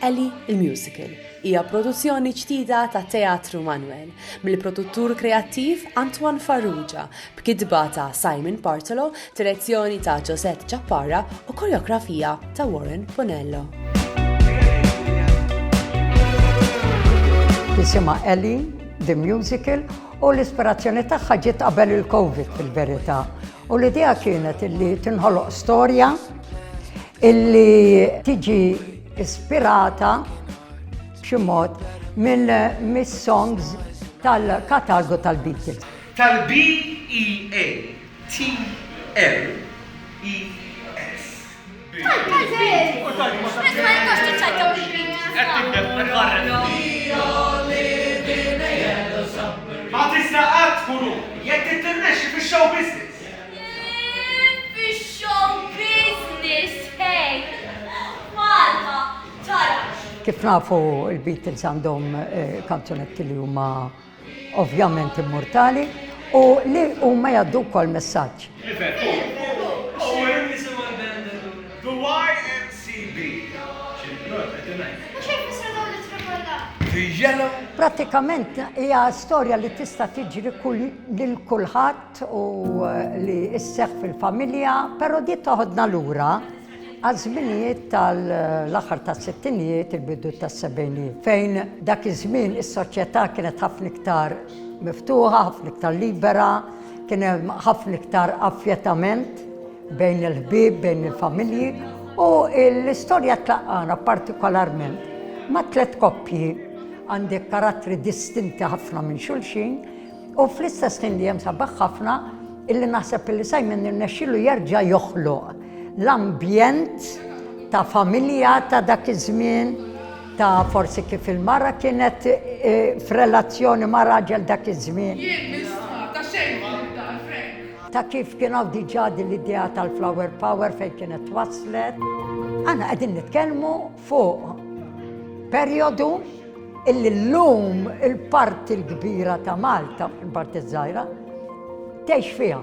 Ellie il-Musical hija produzzjoni ġdida ta' Teatru Manwel mill-produttur kreattiv Antoine Farrugia b'kitba ta' Simon Bartolo, direzzjoni ta' Josette Ġappara u koreografija ta' Warren Bonello. jisimha Ellie, The Musical, u l-ispirazzjoni tagħha ġiet qabel il-Covid fil-verità. U l-idea kienet illi tinħoloq storja illi tiġi ispirata b'xi mod minn mis-songs tal-katalgu tal-Beatles. Tal-BEATLES. Kif nafu l-Beatles għandhom kanzunetti li huma ovvjament immurtali, u li huma jgħaddu wkoll messaġġ. Prattikament hija storja li tista' tiġri lil kulħadd u li sseħħ fil-familja, però di toħodna lura. għaż-żminijiet tal-aħħar tas-sittinijiet, il-bidu tas-sebgħinijiet, fejn dak iż-żmien is-soċjetà kienet ħafna iktar miftuħa, ħafna iktar libera, kien hemm ħafna iktar affjettament bejn il-ħbieb, bejn il-familji u l-istorja tlaqqana partikolarment ma' tliet koppji għandek karattri distinti ħafna minn xulxin U fl-istess ħin li hemm sabaħ ħafna illi naħseb illi Simon irnexxilu jerġa' joħloq l-ambjent ta' familja ta' dak iż-żmien ta' forsi kif il-mara kienet e, f'relazzjoni ma' raġel dak iż-żmien. Ta' kif kien hawn diġà din l-idea tal-flower power fejn kienet waslet. Għana qegħdin nitkellmu fuq perjodu illi llum il-parti l-kbira ta' Malta, il-parti żgħira, tgħix fiha.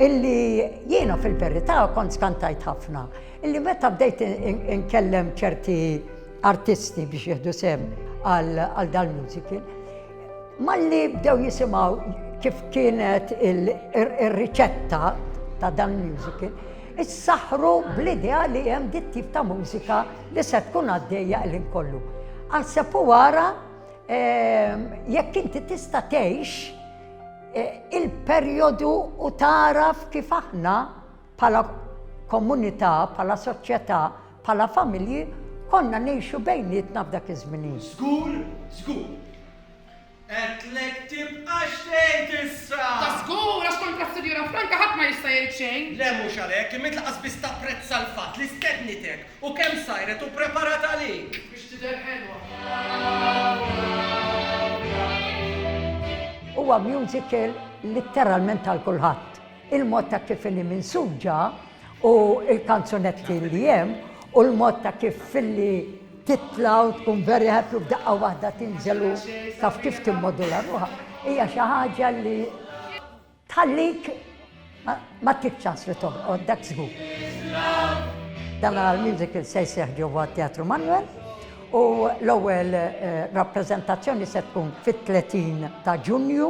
Illi jiena fil-verità kont skantajt ħafna, illi meta bdejt inkellem ċerti artisti biex jieħdu sem għal dal-musical, malli bdew jisimgħu kif kienet ir-riċetta ta' dan musical, Issaħħru bl-idea li hemm dit-tip ta' mużika li se tkun għaddejja l-ħin kollu. Aħseb u wara ehm, jekk inti tista' tgħix eh, il-perjodu u taraf kif aħna bħala komunità, bħala soċjetà, bħala familji, konna nejxu bejnietna f'dak iż-żmien. Żgur, żgur. Għedtlek tibqax tgħid issa! Ta' żgur, għax kontra s-Sinjura Franca ħadd ma jista' jgħid xejn! Le mhux għalhekk, imma int lanqas biss tapprezza l-fatt li stednitek u kemm sajret u preparat għalik! Biex tidher ħelwa. Huwa musical litteralment għal kulħadd. Il-mod ta' kif inhi minsuġa u l-kanzunetti li hemm u l-mod ta' kif filli titla' u tkun very happy u b'daqqa waħda tinżel u taf kif timmodula ruħha hija xi ħaġa li tħallik ma tibx ċans li toħroq dak żgur. Dan għal musical se jseħħ ġewwa Teatru Manuel u l-ewwel eh, rappreżentazzjoni se tkun fit-30 ta' Ġunju